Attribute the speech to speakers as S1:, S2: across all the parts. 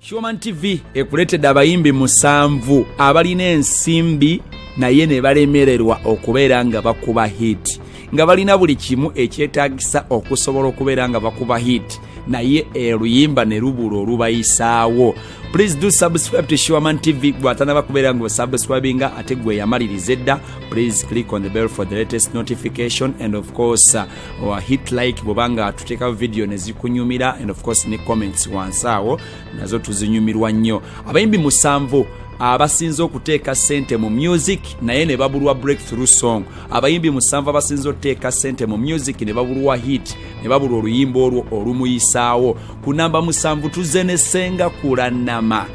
S1: Human TV ekuleetedde abayimbi musanvu abalina ensimbi naye ne balemererwa okubeera nga bakuba hit nga balina buli kimu ekyetaagisa okusobola okubeera nga bakuba hit naye oluyimba ne lubula olubayisaawo please do subscribe to Sherman TV gwatana bakubeera ngo subscribe nga ate gwe yamaliriza edda please click on the bell for the latest notification and of course uh, or hit like bwoba nga tuteekawo vidiyo ne zikunyumira and of course ne comments wansi awo nazo tuzinyumirwa nnyo abayimbi musanvu abasinze okuteeka sente mu music naye ne babulwa breakthrough song abayimbi musanvu abasinze okuteeka sente mu music ne babulwa hit ne babulwa oluyimba olwo olumuyisaawo ku namba musanvu tuzenesenga kulanama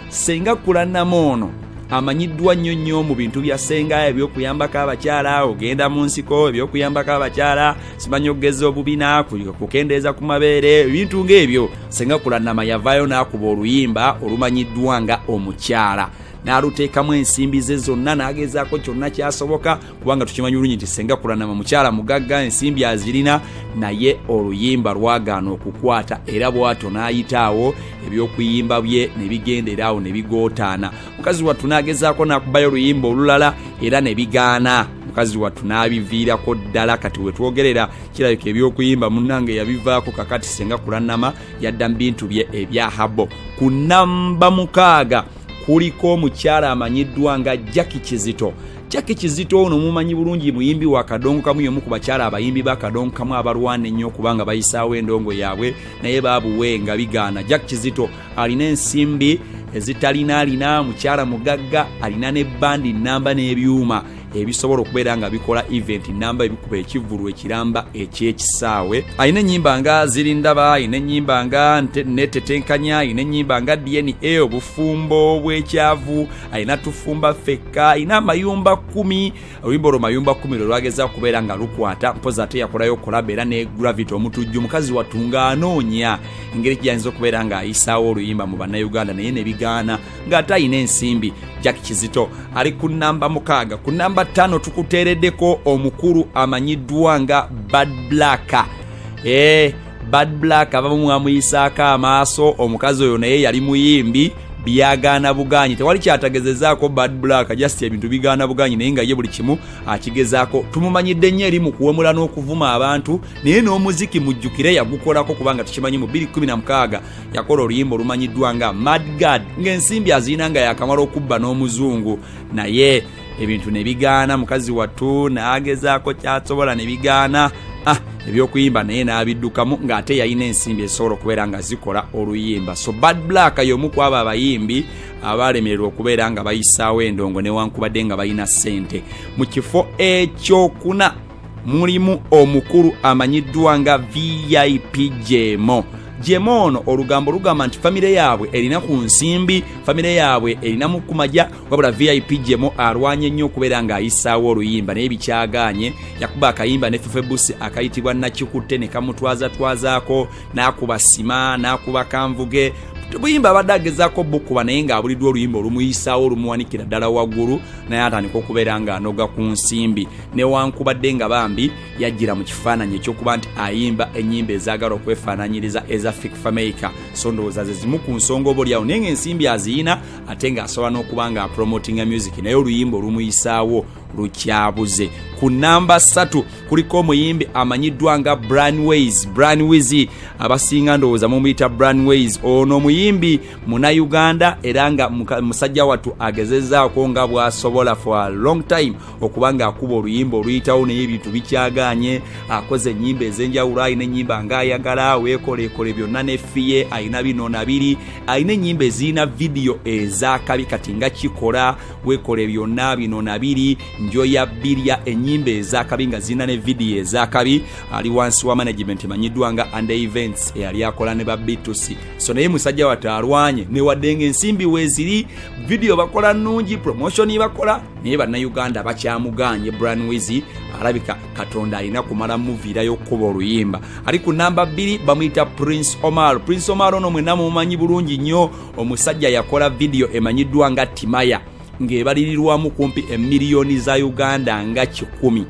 S1: senga kulanama ono amanyiddwa nnyo nnyo mu bintu bya senga ebyokuyambako abakyala ogenda mu nsiko ebyokuyambako abakyala simanyi okugeza obubina kukendeeza ku mabeere ebintu ng'ebyo senga kulanama yavaayo n'akuba oluyimba olumanyiddwa nga omukyala n'aluteekamu ensimbi ze zonna n'agezaako kyonna kyasoboka kubanga tukimanyi bulungi nti senga kulanama mukyala mugagga ensimbi azirina naye oluyimba lwagaana okukwata era bwato n'ayitaawo ebyokuyimba bye ne bigendera awo ne bigootaana mukazi wattu n'agezaako n'akubayo oluyimba olulala era ne bigaana mukazi wattu n'abiviirako ddala kati wetwogerera kirabika ebyokuyimba munnange yabivaako kakati senga kulanama yadda mu bintu bye ebya habo ku namba mukaaga kuliko omukyala amanyiddwa nga jacki kizito jacki kizito ono mumanyi bulungi muyimbi wa kadongo kamu yomu ku bakyala abayimbi ba kadongo kamu abalwana ennyo okubanga bayisaawo endongo yaabwe naye babuwe nga bigaana jack kizito alina ensimbi ezitalina alina mukyala mugagga alina ne bandi namba n'ebyuma ebisobola okubeera nga bikola event namba ebikuba ekivulu ekiramba ekyekisaawe alina enyimba nga ziri ndaba alina enyimba nga netetenkanya alina enyimba nga dna obufumbo bwekyavu alina tufumba fekka alina amayumba kumi oluyimba olwo mayumba kumi lwe lwageza kubeera nga lukwata mpozi ate yakolayo okulaba era ne gravity omutujju mukazi wattu ng'anoonya engeri gyayinza okubeera ng'ayisaawo oluyimba mu bannayuganda naye ne bigaana ng'ate alina ensimbi jack kizito ali ku namba mukaaga ku namba ttaano tukuteereddeko omukulu amanyiddwa nga bad black ee eh, bad black abamu mwamuyisaako amaaso omukazi oyo naye yali muyimbi byagaana buganyi tewali kyatagezezaako bad black just ebintu bigaana buganyi naye nga ye buli kimu akigezaako tumumanyidde nnyo eri mu kuwemula n'okuvuma abantu naye n'omuziki mujjukire yagukolako kubanga tukimanyi mu 216 yakola oluyimba olumanyiddwa nga madgad ng'ensimbi azirina nga yakamala okubba n'omuzungu naye ebintu ne bigaana mukazi wattu n'agezaako kyasobola ne bigaana ah, ebyokuyimba naye n'abiddukamu ng'ate yalina ensimbi ezisobola okubeera nga zikola oluyimba so bad black y'omu ku abo abayimbi abaalemererwa okubeera nga bayisaawo endongo newankubadde nga balina ssente mu kifo ekyokuna mulimu omukulu amanyiddwa nga vip jemo jema ono olugambo lugamba nti famire yaabwe erina ku nsimbi famire yaabwe erina mu kumaja wabula vip jemo alwanye nnyo okubeera ng'ayisaawo oluyimba naye bikyagaanye yakuba akayimba ne fefebusi akayitibwa nakikutte ne kamutwazatwazaako n'akuba sima n'akuba kanvuge buyimba abadde agezaako bukuba naye ng'abuliddwa oluyimba olumuyisaawo olumuwanikira ddala waggulu naye atandika okubeera ng'anoga ku nsimbi newankubadde nga bambi yajjira mu kifaananyi ekyokuba nti ayimba ennyimba ezaagala okwefaananyiriza eza fik fameica so ndowooza ze zimu ku nsonga oba olyawo naye ng'ensimbi aziyina ate ng'asobola n'okuba nga apromotinga music naye oluyimba olumuyisaawo lukyabuze ku namba 3 kuliko omuyimbi amanyiddwa nga branways branways abasinga ndowooza mumuyita branways ono omuyimbi munauganda era nga musajja wattu agezezaako nga bwasobola for a long time okuba nga akuba oluyimba oluyitawo naye ebintu bikyaganye akoze ennyimba ez'enjawulo alina ennyimba nga ayagala weekoleekole byonna nefiye alina bino na biri alina enyimba ezirina vidiyo ezakabi kati nga kikola wekola byonna bino nabiri njoya birya enyimba ezakabi nga zirina ne vidiyo ezakabi ali wansi wa management emanyiddwa nga under events eyali akola ne babitusi so naye musajja wate alwanye newadde nga ensimbi weziri vidiyo bakola nungi promotion bakola naye bannayuganda bakyamuganye bran wizi alabika katonda alina kumala muviirayo okukuba oluyimba ali ku namba bbiri bamuyita prince omar prince omar ono mwena mumanyi bulungi nnyo omusajja yakola vidiyo emanyiddwa nga timaya ng'ebalirirwamu kumpi emiliyoni za uganda nga kikumi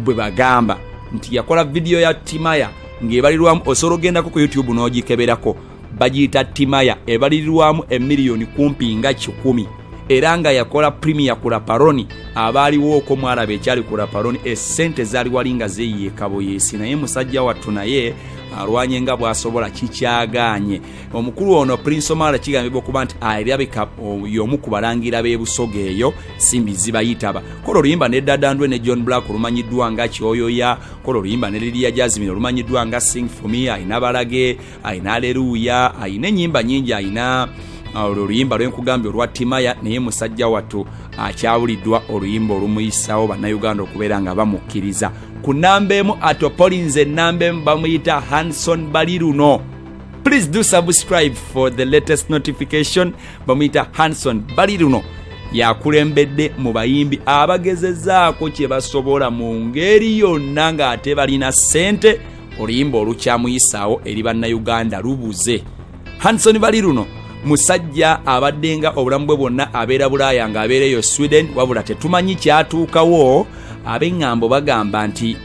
S1: bwe bagamba nti yakola vidiyo ya timaya ng'ebalirwamu osobola ogendako ku youtube n'ogikeberako bagiyita timaya ebalirirwamu emiliyoni kumpi nga kikumi era nga yakola premier ku laparoni abaaliwo oko mwalaba ekyali ku laparoni esente zaali wali nga zeyiye kaboyeesi naye musajja wattu naye alwanye nga bwasobola kikyagaanye omukulu ono prince omala kigambibwa okuba nti alabika yomu ku balangira b'ebusoga eyo simbi zibayitaba kola oluyimba ne dadandwe ne john black olumanyiddwa nga kyoyoya kola oluyimba ne liriya jazimini olumanyiddwa nga sing for me ayina balage ayina aleruuya ayina enyimba nyingi ayina uh, olwo oluyimba lwenkugambye olwa timaya naye musajja wattu akyawuliddwa oluyimba olumuyisawo bannayuganda okubeera nga bamukkiriza ku namba emu atopolinze enamba emu bamuyita hanson bali luno please do subscribe for the latest notification bamuyita hanson bali luno yakulembedde mu bayimbi abagezezaako kye basobola mu ngeri yonna ng'ate balina ssente oluyimba olukyamuyisaawo eri bannayuganda lubuze hanson bali luno musajja abaddenga obulamu bwe bwonna abeera bulaaya nga abeera eyo sweden wabula tetumanyi kyatuukawo ab'eŋŋambo bagamba nti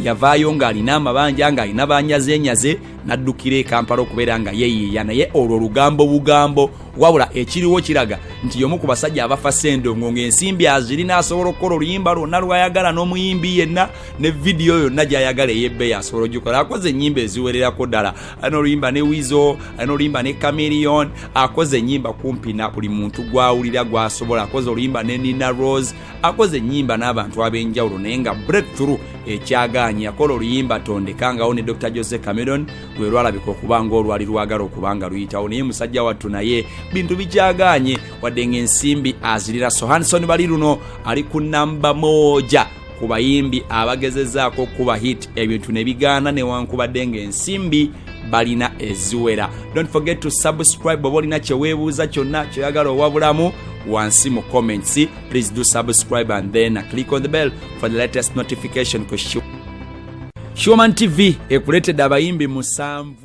S1: yavaayo ng'alina amabanja ng'alina banyazenyaze n'addukira ekampala okubeera nga yeyiiya naye olwo lugambo bugambo wabula ekiriwo kiraga nti yomu ku basajja abafa sendongo ng'ensimbi azirina asobola okukola oluyimba lwonna lwayagala n'omuyimbi yenna ne vidiyo yonna gyayagala eyebbeyi asobola ogikola akoze enyimba eziwererako ddala alina oluyimba ne wizo alina oluyimba ne camilion akoze enyimba kumpi na buli muntu gwawulira gwasobola akoze oluyimba ne nina rose akoze enyimba n'abantu ab'enjawulo naye nga breakthrough ekyagaanyi yakola oluyimba tondekangawo ne dr jose cameron lwe lwalabika okuba ngaolwali lwagala okuba nga luyitawo naye musajja wattu naye bintu bikyagaanye wadde ng'ensimbi azirira sohanson bali luno ali ku namba moja ku bayimbi abagezezaako okukuba hit ebintu ne bigaana newankubadde ng'ensimbi balina eziwera don't forget to subscribe oba olina kyeweebuuza kyonna kyoyagala owabulamu wansi mu comments please do subscribe and then click on the bell for the latest notification ku shoman tv ekuleetedde abayimbi musanvu